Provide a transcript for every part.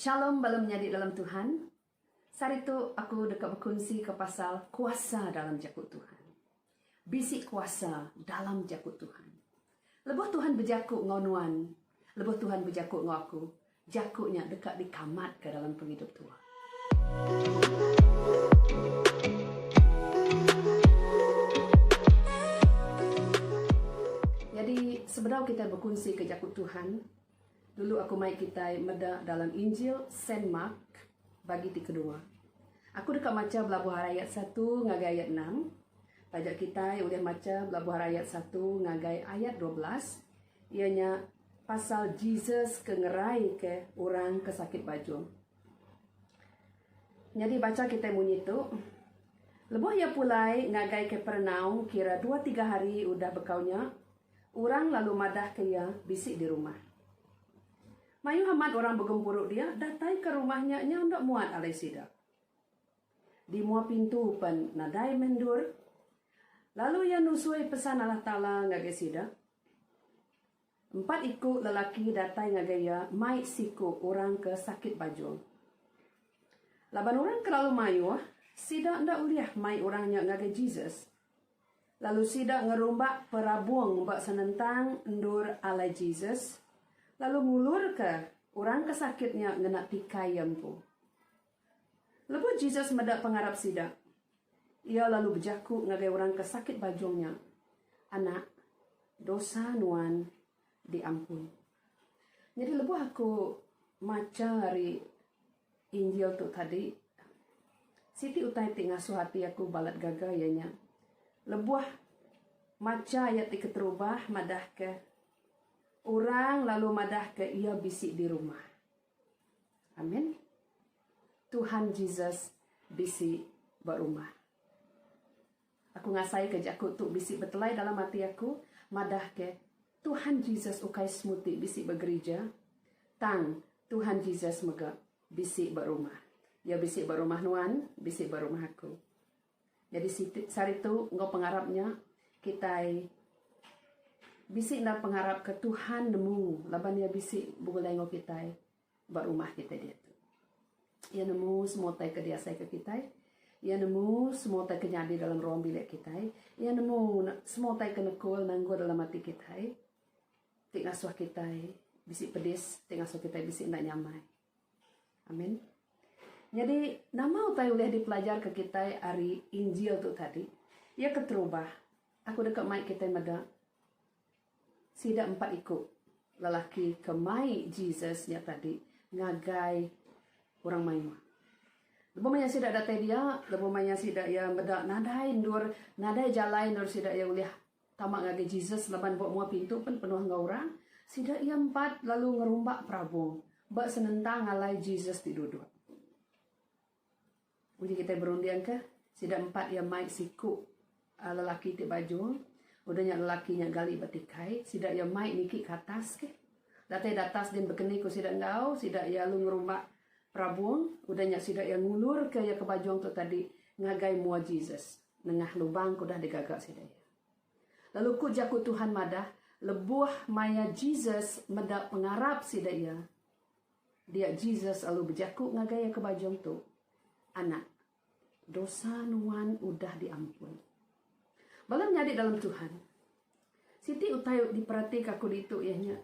Shalom bala menyadi dalam Tuhan. Sehari tu aku deka bekunsika pasal kuasa dalam jaku Tuhan. Bisi kuasa dalam jaku Tuhan. Lebuh Tuhan bejaku enggau nuan, lebuh Tuhan bejaku enggau aku, jaku nya deka dikamatka dalam pengidup tuan. Nyadi sebedau kitai bekunsika jaku Tuhan, Dulu aku mai kitai meda dalam Injil Saint Mark bagi ti kedua. Aku deka macha belabuh arai ayat satu ngagai ayat enam. Taja kitai ulih macha belabuh arai ayat satu ngagai ayat dua belas iya nya pasal Jesus ke ngeraika orang ke sakit bajung. Nyadi bacha kitai munyi tu, Lebuh iya pulai ngagai Kapernaum kira dua tiga hari udah bekau nya, Orang lalu madahka iya bisi di rumah. Mayuh amat orang begempuru dia datai ke rumah nya nyau enda muat alai sida. Di mua pintu pen nadai meh endur. Lalu iya nusui pesan Allah Taala ngagai sida. Empat iku lelaki datai ngagai iya mai siku orang ke sakit bajung. Laban orang ke lalu mayuh, sida enda ulih mai orang nya ngagai Jesus. Lalu sida ngerumbak perabung ba senentang endur alai Jesus, lalu ngulurka orang ke sakit nya ngena tikai iya empu. Lebuh Jesus meda pengarap sida, iya lalu bejaku ngagai orang ke sakit bajung nya, Anak, dosa nuan diampun. Nyadi lebuh aku macha ari. Injil tu tadi. Siti utai ti ngasuh ati aku balat gaga iya nya lebuh macha iya ti keterubah madahka orang lalu madahka iya bisi di rumah. Amin. Tuhan Jesus bisi ba rumah. Aku ngasaika jaku tu bisi betelai dalam ati aku, madahka, Tuhan Jesus ukai semuti bisi ba gerija, tang Tuhan Jesus mega bisi ba rumah. Iya bisi ba rumah nuan, bisi ba rumah aku. Nyadi siti, saritu enggau pengarap nya, kitai bisi enda pengarap ke Tuhan nemu laban Iya bisi begulai enggau kitai. ba rumah kitai diatu. Iya nemu semua utai ke diasaika kitai. Iya nemu semua utai ke nyadi dalam ruang bilik kitai. Iya nemu semua utai ke nekul nanggul dalam ati kitai ti ngasuh kitai bisi pedis, ti ngasuh kitai bisi enda nyamai. Amin. Nyadi, nama utai ulih dipelajarka kitai ari Injil tu tadi? Iya keterubah. Aku deka mai kitai meda. Sida empat iku lelaki ke mai Jesus nya tadi ngagai orang mayuh. Lebuh maya sida datai dia, lebuh maya sida iya meda nadai endur, nadai jalai endur sida iya ulih tama ngagai Jesus laban ba mua pintu pen penuh enggau orang, sida iya empat lalu ngerumba perabung ba senentang alai Jesus ti duduk. Uji kitai berundingka, sida empat iya mai siku lelaki ti bajung. Udah nya lelaki nya gali ba tikai, sida iya mai niki ke atas ke. Datai datas din bekeni ku sida enggau, sida iya alu ngerumba perabung. Udah nya sida iya ngulurka iya ke bajung tu tadi ngagai mua Jesus nengah lubang ke udah digaga sida iya. Lalu ku jaku Tuhan madah, lebuh maya Jesus meda pengarap sida iya, Dia Jesus lalu bejaku ngagai iya ke bajung tu, Anak, dosa nuan udah diampun. Bala menyadi dalam Tuhan, siti utai diperatika aku ditu iya nya,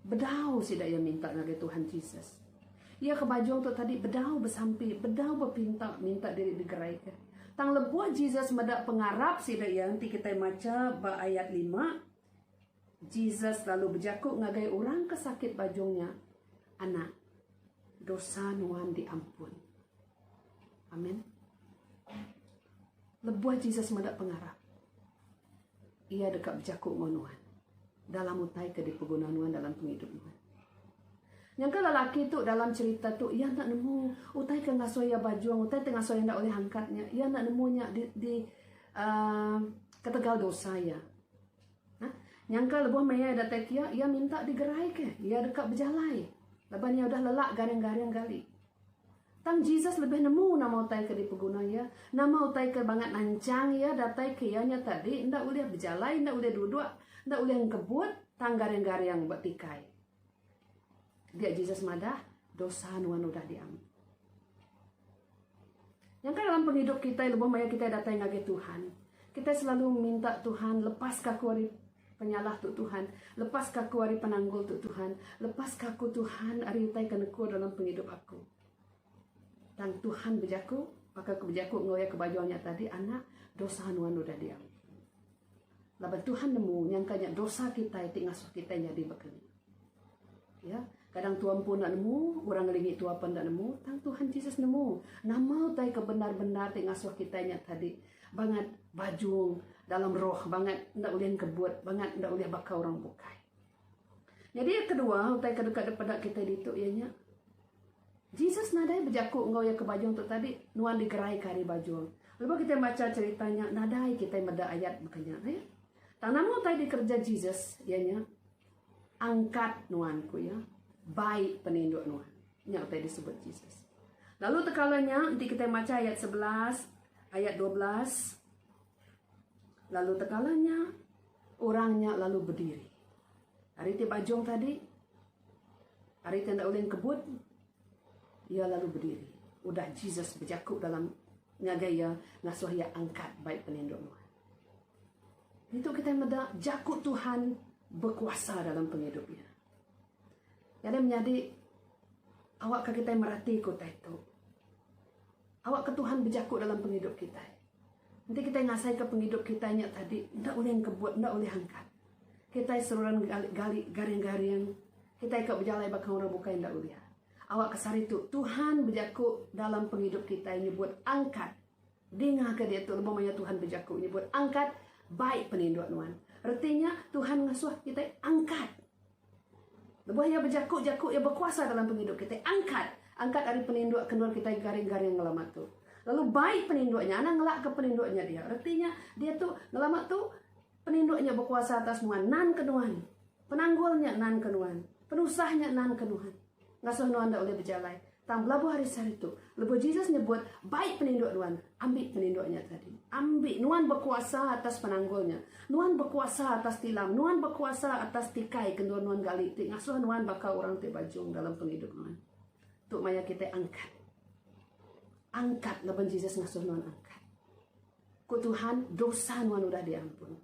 bedau sida iya minta ngagai Tuhan Jesus. Iya ke bajung tu tadi bedau besampi, bedau bepinta minta diri digeraika. Tang lebuh Jesus meda pengarap sida iya enti kitai macha ba ayat lima, Jesus lalu bejaku ngagai orang ke sakit bajung nya, Anak, dosa nuan diampun. Amin. Lebuh Jesus meda pengarap, iya deka bejaku enggau nuan dalam utai ke dipeguna nuan dalam pengidup nuan. Nyangka lelaki tu dalam cerita tu iya enda nemu utai ke ngasuh iya bajung, utai ti ngasuh iya enda ulih angkat nya, iya enda nemu nya di di uh, ketegal dosa iya. Nyangka lebuh maya datai kia, iya minta digeraika. Iya deka bejalai laban iya udah lelak garing-garing gali. Tang Jesus lebih nemu nama utai ke dipeguna iya. Nama utai ke bangat nanchang iya datai ke iya nya tadi enda ulih bejalai, enda ulih duduk, enda ulih engkebut tang garing-garing ba tikai. Dia Jesus madah, dosa nuan udah diampun. Nyangka dalam pengidup kita lebuh maya kita datai ngagai Tuhan, kita selalu minta Tuhan lepas ka aku ari penyalah tu Tuhan, lepas ka aku ari penanggul tu Tuhan, lepas ka aku Tuhan ari utai ke nekur dalam pengidup aku. Tang Tuhan bejaku, baka aku bejaku enggau iya ke baju nya tadi, anak, dosa nuan udah diampun. Laban Tuhan nemu nyangka nya dosa kitai ti ngasuh kitai nyadi bakeni. Ya, kadang tua empu enda nemu, orang ngelingi tua pun enda nemu, tang Tuhan Jesus nemu nama utai ke bendar-bendar ti ngasuh kitai nya tadi bangat bajung dalam roh, bangat enda ulih engkebut, bangat enda ulih baka orang bukai. Nyadi yang kedua utai ke deka dipeda kitai ditu iya nya Jesus nadai bejaku enggau iya ke bajung tu tadi, Nuan digeraika ari bajung. Lebuh kitai macha cherita nya, nadai kitai meda ayat baka nya. Nya. Tang nama utai dikereja Jesus, iya nya, Angkat nuan, ku iya. Bai peninduk nuan. Nya utai disebut Jesus. Lalu tekala nya, enti kitai macha ayat sebelas, ayat dua belas, lalu tekala nya, orang nya lalu bediri. Ari ti bajung tadi, Ari ti enda ulih engkebut, iya lalu bediri udah Jesus bejaku dalam ngagai iya ngasuh iya angkat bai penindu nuan. Ngitu kitai meda jaku Tuhan bekuasa dalam pengidup iya. Nyadi menyadi awakka kitai meratika utai tu. Awakka Tuhan bejaku dalam pengidup kitai. Enti kitai ngasaika pengidup kitai nya tadi enda ulih engkebut, enda ulih angkat, kitai seruran gali garing-garing, kitai ka bejalai baka orang bukai enda ulih. Awakka sehari tu Tuhan bejaku dalam pengidup kitai nyebut angkat. Dingaka diatu lebuh maya Tuhan bejaku nyebut angkat, Bai peninduk nuan. Reti nya Tuhan ngasuh kitai angkat. Lebuh iya bejaku jaku iya bekuasa dalam pengidup kitai angkat angkat ari peninduk kendor kitai garing garing ngelama tu lalu baik peninduk nya anang ngelak ke peninduk nya dia reti nya dia tu ngelama tu peninduk nya bekuasa atas nuan nan ke nuan penanggul nya nan ke nuan penusah nya nan ke nuan. Ngasuh nuan enda ulih bejalai. Tang belabuh ari sehari tu, lebuh Jesus nyebut, Bai peninduk nuan, ambi peninduk nya tadi. Ambi. Nuan bekuasa atas penanggul nya. Nuan bekuasa atas tilam. Nuan bekuasa atas tikai ke endur nuan gali ti ngasuh nuan baka orang ti bajung dalam pengidup nuan. Tu maya kitai angkat. Angkat laban Jesus ngasuh nuan angkat. Ku Tuhan, dosa nuan udah diampun.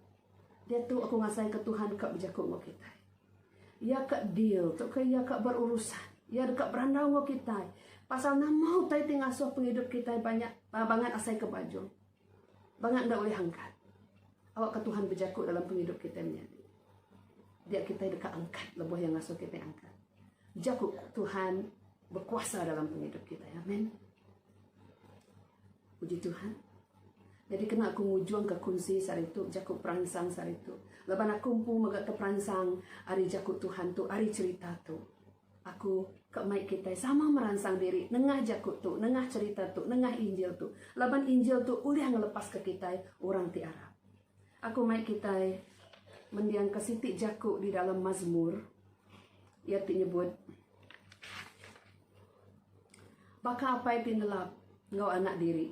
Diatu aku ngasaika Tuhan ka bejaku enggau kitai. Iya ka deal tauka iya ka berurusan. Iya deka berandau enggau kitai pasal nama utai ti ngasuh pengidup kitai banyak ah, bangat asaika bajung. Bangat enda ulih angkat. Awakka Tuhan bejaku dalam pengidup kitai menyadi. Dia kitai deka angkat lebuh yang ngasuh kitai angkat. Jaku Tuhan berkuasa dalam pengidup kitai. Amin. Puji Tuhan. Jadi kena aku ngujungka kunsi sehari tu, jaku peransang sehari tu. Laban aku empu mega ke peransang ari jaku Tuhan tu, ari cerita tu. Aku ke mai kita sama meransang diri nengah jaku tu, nengah cerita tu, nengah injil tu. Laban injil tu ulih ngelepas ke kita orang ti arap. Aku mai kita mendiang ke siti jaku di dalam mazmur. Ia ti nyebut. Baka apai ti nelap enggau anak diri,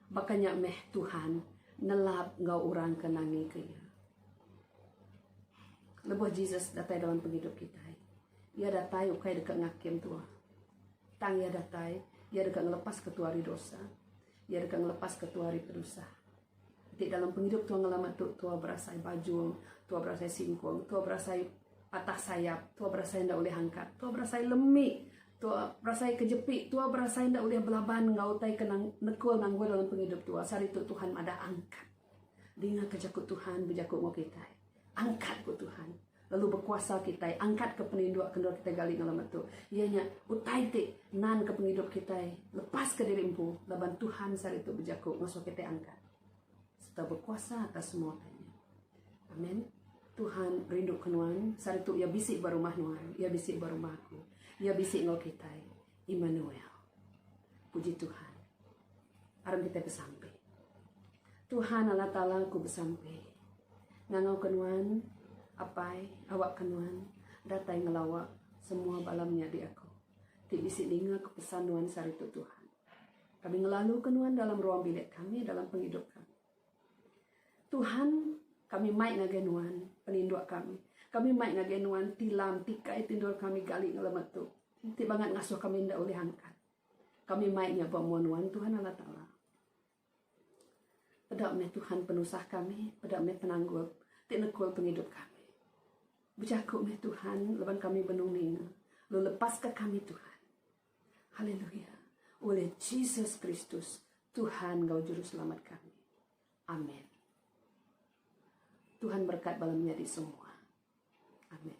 baka nya meh Tuhan nelap enggau orang ke nangika Iya. Lebuh Jesus datai dalam pengidup kitai, Iya datai ukai deka ngakim tuah. Tang Iya datai, Iya deka ngelepaska tuah ari dosa. Iya deka ngelepaska tuah ari penusah. ti dalam pengidup tua ngelama tu tua berasai bajung, tua berasai singkung, tua berasai patah sayap, tua berasai enda ulih angkat, tua berasai lemi, tua berasai kejepi, tua berasai enda ulih belaban enggau utai ke nang nekul nanggul dalam pengidup tua. Sehari tu Tuhan madah angkat. Dingaka jaku Tuhan bejaku enggau kitai. Angkat ku Tuhan. Lalu bekuasa kitai angkat ke peninduk kendor kitai gali ngalai metu. Iya nya utai ti nan ke pengidup kitai lepas ke diri empu laban Tuhan sehari tu bejaku ngasuh kitai angkat. Serta bekuasa atas semua utai nya. Amen. Tuhan rindu ke nuan. Sehari tu ia bisi ba rumah nuan. Ia bisi ba rumah aku. Ia bisi enggau kitai. Immanuel. Puji Tuhan. aram kitai besampi. Tuhan Allah Taala ku besampi ngangau ke nuan apai awak ke nuan datai ngelawa semua bala menyadi aku ti bisi ninga ke pesan nuan sehari tu Tuhan. Kami ngelalu ke nuan dalam ruang bilik kami dalam pengidup kami. Tuhan kami mai ngagai nuan peninduk kami. Kami mai ngagai nuan tilam tikai tindur kami gali ngelamat tu. Ti bangat ngasuh kami enda ulih angkat. Kami mai nya ba mua nuan Tuhan Allah Taala. Peda meh Tuhan penusah kami, peda meh penanggul ti nekul pengidup kami. Bejaku meh Tuhan leban kami benung ninga, lu lepaska kami Tuhan. Haleluya. Oleh Jesus Kristus, Tuhan enggau juru selamat kami. Amin. Tuhan berkat bala menyadi semua. Amin.